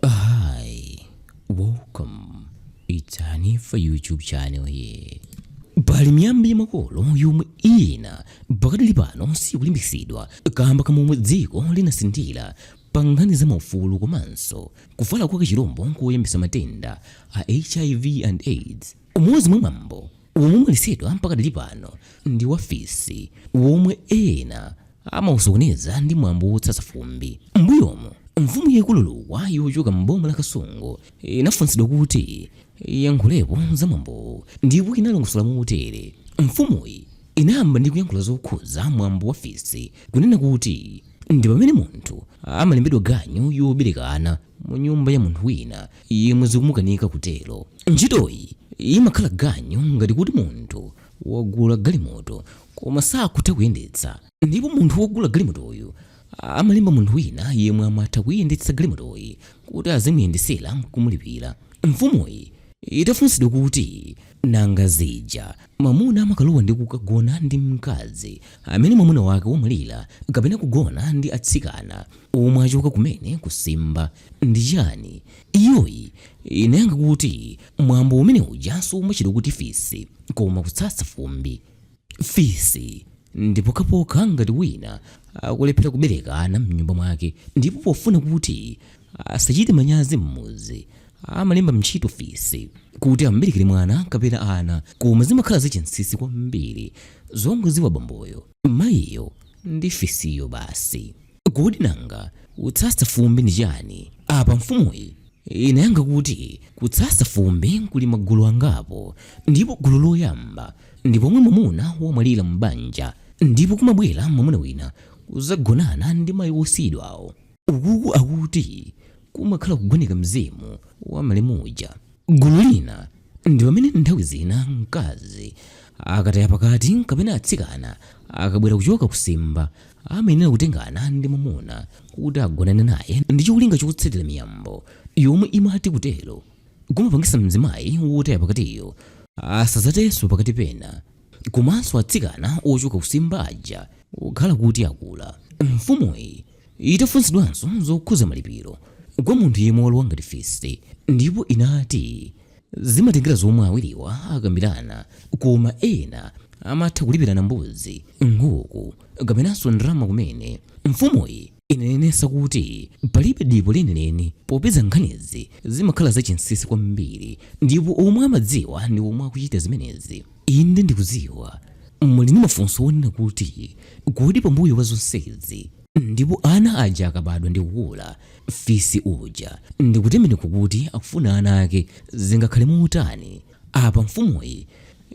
Hi, welcome. It's Hanifa YouTube channel here. pali miyambo ya makolo yomwe ina pakadali pano siyikulimbikitsidwa kamba ka momwe dziko linasinthira pa nkhani za maufulu komanso kufala kwa kachilombo koyambitsa matenda a hiv and aids Umodzi mwa mwambo womwe umaletsedwa pakadali pano ndi wa fisi womwe ena amausokoneza ndi mwambo wotsatsa fumbi. M'mbuyomu, Mfumu yaikulu Lukwa yochoka m'boma la Kasungu inafunsidwa kuti iyankhulepo za mwambowu ndipo inalongosola motere, Mfumuyi inayamba ndi kuyankhula zokhudza mwambo wa fisi kunena kuti ndi pamene munthu amalembedwa ganyu yobereka ana mu nyumba ya munthu wina. yemwe zikumukanika kutero. Ntchitoyi imakhala ganyu ngati kuti munthu wagula galimoto koma sakutha kuyendetsa ndipo munthu wogula galimotoyu amalemba munthu wina yemwe amatha kuiyendetsa galimotoyi kuti azimuyendetsera n'kumulipira. Mfumuyi itafunsidwa kuti, Nanga zija mwamuna amakalowa ndi kukagona ndi mkazi amene mwamuna wake wamwalira kapena kugona ndi atsikana omwe achoka kumene kutsimba, ndi chani? Iyoyi inayankha kuti mwambo umene uja sumatchedwa kuti fisi koma kutsatsa fumbi. Fisi ndi pokhapokha ngati wina akulephera kubereka ana mnyumba mwake ndipo pofuna kuti asachite manyazi mmudzi amalemba ntchito fisi kuti amuberekere mwana kapena ana koma zimakhala zachinsinsi kwambiri zongodziwa bamboyo mayiyo ndi fisiyo basi. Kodi nanga kutsatsa fumbi ndi chani? Apa mfumuyi inayankha kuti kutsatsa fumbi kuli magulu angapo ndipo gulu loyamba ndi pomwe mwamuna wamwalira m'banja ndipo kumabwera mwamuna wina kudzagonana ndi mayi wosiyidwawo. Ukuku akuti kumakhala kugoneka mzimu wa malemu uja. Gulu lina ndi pamene nthawi zina mkazi akataya pakati kapena atsikana akabwera kuchoka kutsimba amayenera kutengana ndi mwamuna kuti agonane naye ndi cholinga chotsatira miyambo yomwe imati kutero kumapangitsa mzimayi wotaya pakatiyo asadzatayenso pakati pena komanso atsikana ochoka kutsimba aja kukhala kuti akula. Mfumuyi Itafunsidwanso zokhudza malipiro kwa munthu yemwe walowa ngati fisi ndipo inati, Zimatengera zomwe awiriwa akambirana koma ena amatha kulipirana mbuzi, nkhuku kapenanso ndalama kumene. Mfumuyi inanenetsa kuti palibe dipo lenileni popeza nkhanizi zimakhala zachinsinsi kwambiri ndipo omwe amadziwa ndi omwe akuchita zimenezi. Inde, ndikudziwa muli ndi mafunso onena kuti, Kodi pambuyo pa zonsezi, ndipo ana aja akabadwa ndi kukula, fisi uja ndi kutembenuka kuti akufuna ana ake, zingakhale motani? Apa mfumuyi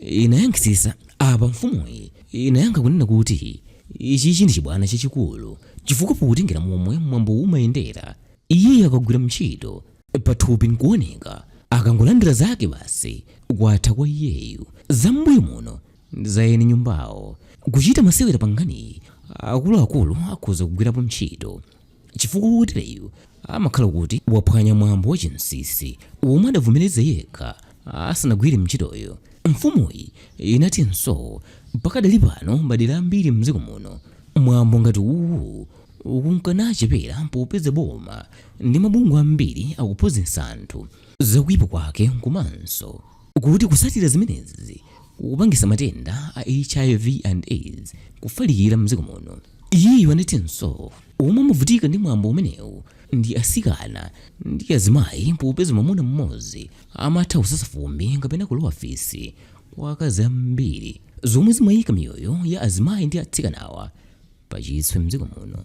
inayankhitsa. Apa mfumuyi inayankha kunena kuti, Ichichi ndi chibwana chachikulu, chifukwa potengera momwe mwambowu umayendera, iyeyu akagwira mntchito, pathupi nkuoneka akangolandira zake basi kwatha kwa iyeyu zam'mbuyo muno ndi za eni nyumbawo kuchita masewera pa nkhaniyi akuluakulu akhoza kugwirapo ntchito chifukwa wotereyu amakhala kuti waphwanya mwambo wa chinsinsi womwe adavomereza yekha asanagwire ntchitoyo mfumuyi inatinso pakadali pano madera ambiri mdziko muno mwambo ngati uwu ukunka nuchepera popeza boma ndi mabungwe ambiri akuphunzitsa anthu za kuipa kwake komanso kuti kutsatira zimenezi kukupangitsa matenda a hiv and aids kufalikira m'dziko muno. Iyeyo anatinso omwe amavutika ndi mwambo umenewu ndi atsikana ndi azimayi popeza mwamuna mmodzi amatha kusasa fumbi kapena kulowa fisi kwa akazi ambiri zomwe zimayika miyoyo ya azimayi ndi atsikanawa pachiswe m'dziko muno.